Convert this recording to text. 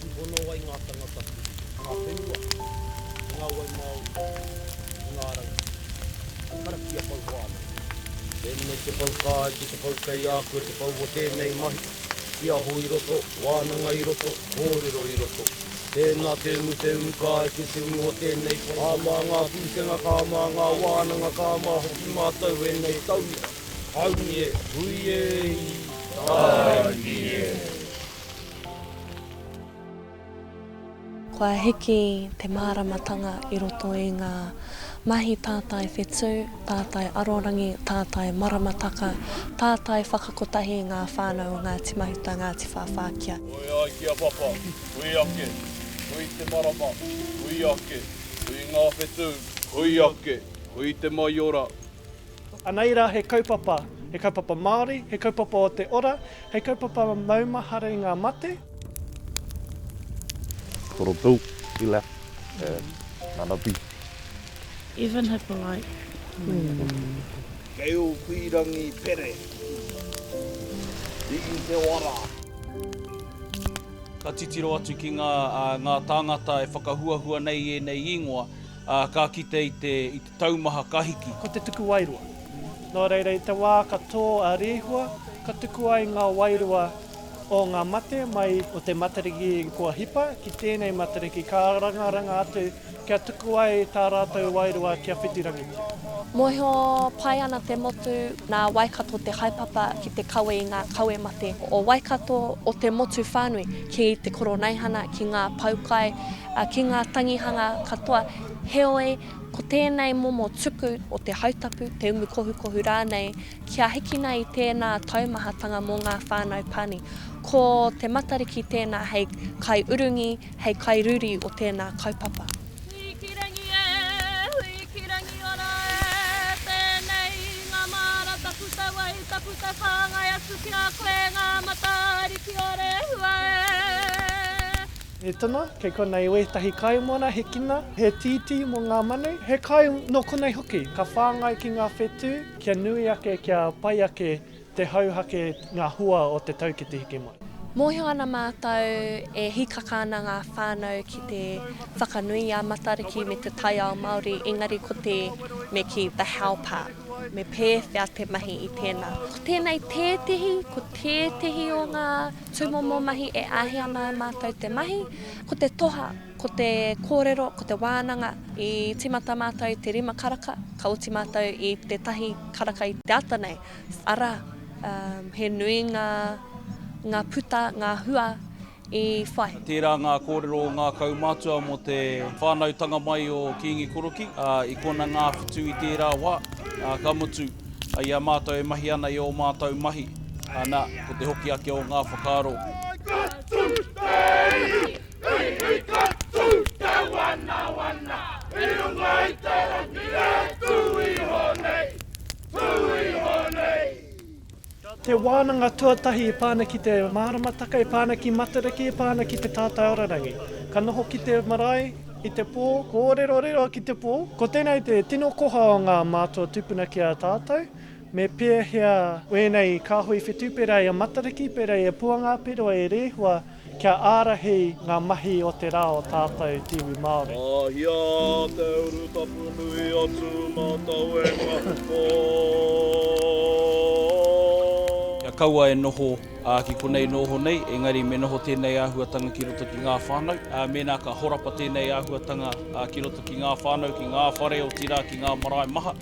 I hono ai ngā tangata ki ngā whenua, ki ngā wai māori, ki ngā rangi, hei karakia pou whānui. Tēnei te pou kā ki te pou kei a koe te pou o tēnei mahi, tiaho i roto, wānanga i roto, kōrero i roto. Tēnā te umu te umu kā i te tumu o tēnei pou. Kā mā ngā pūkenga, kā mā ngā wānanga, kā mā hoki mātou ēnei tauira. Haumi e! Hui e! Tāiki e! Kua hiki te māramatanga i roto i ngā mahi tātai whetū, tātai arorangi, tātai maramataka, tātai whakakotahi i ngā whānau o Ngāti Mahuta, Ngāti Whāwhā kia. Hui ai ki a Papa, hui ake, hui te marama, hui ake, hui ngā whetū. Hui ake, hui te maiora, Anei rā he kaupapa, he kaupapa Māori, he kaupapa o te ora, he kaupapa maumahara i ngā mate. Koropu, Ila, Manabi. Even Hippolite. Kei Owhirangi pere. I te wara. Ka titiro atu ki ngā tāngata e whakahuahua nei i ēnei īngoa, ka kite i te. taumaha ka hiki. Ko te tuku wairua. Nō reira i te wā ka tō a Rehua, ka tuku ai ngā wairua o ngā mate mai o te Matariki kua hipa ki tēnei Matariki ka rangaranga atu kia tuku ai tā rātou wairua kia whitirangitia. Mōhio pai ana te motu nā Waikato te haepapa ki te kawe i ngā kawe mate o Waikato, o te motu whānui ki te Koroneihana, ki ngā poukai, ki ngā tangihanga katoa, heoi, Ko tēnei momo tuku o te hautapu, te umu kohukohu rānei, kia hikina i tēnā taumahatanga mō ngā whānau pani. Ko Te Matariki tēnā hei kaiurungi, hei kairūri o tēnā kaupapa. Hui ki rangi e, hui ki rangi ora e, tēnei ngā māra taku tau ai, taku tau whāngai atu ki a koe ngā mata ariki o Rehua e. He tuna, kei konei wētahi kaimōna, he kina, he tītī mō ngā manu, he kai nō konei hoki. Ka whāngai ki ngā whetū kia nui ake, kia pai ake te hauhake, ngā hua o te tau ki te hiki mai. Mōhio ana mātou e hīkaka ana ngā whānau ki te whakanui i a Matariki me te taiao Māori, engari ko te me kī the how part, me pēwhea te mahi i tēnā. Ko tēnei tētehi, ko tētehi o ngā. Tūmomo mahi e āhei ana e mātou te mahi, ko te toha, ko te kōrero, ko te wānanga. I tīmata mātou i te rima karaka, ka oti mātou i te tahi karaka i te ata nei. Arā, he nui ngā, ngā puta, ngā hua i whai. Tērā ngā kōrero o ngā kaumātua mō te whānautanga mai o Kīngi Korokī, ā, i kona ngāwhitu i tērā wā, ā, ka mutu. I a mātou e mahi ana i ō mātou mahi, ana, ko te hoki ake o ngā whakaaro. Katu te ihi, ihi katu te wanawana, i runga i te rangi e tū iho nei, tū iho nei. Te wānanga tuatahi e pā ana ki te māramataka, e pā ana ki Matariki, e pā ana ki te tātai ora rangi. Ka noho ki te marae i te pō. Kōrerorero ki te pō. Ko tēnei te tino koha o ngā mātua tupuna ki a tātou. Me pēhea ēnei kāhui whetū pērā i a Matariki, pērā i a Puangaperoa, e Rehua, Kia ārahi ngā mahi o te rā o tātou te iwi Māori. Mahia te urutapu nui a Tūmatauenga o. Kia kaua e noho ki konei nō honei, engari me noho tēnei āhuatanga ki roto ki ngā whānau. Mēnā ka horapa tēnei āhuatanga ki roto ki ngā whānau, ki ngā whare, otirā ki ngā marae maha.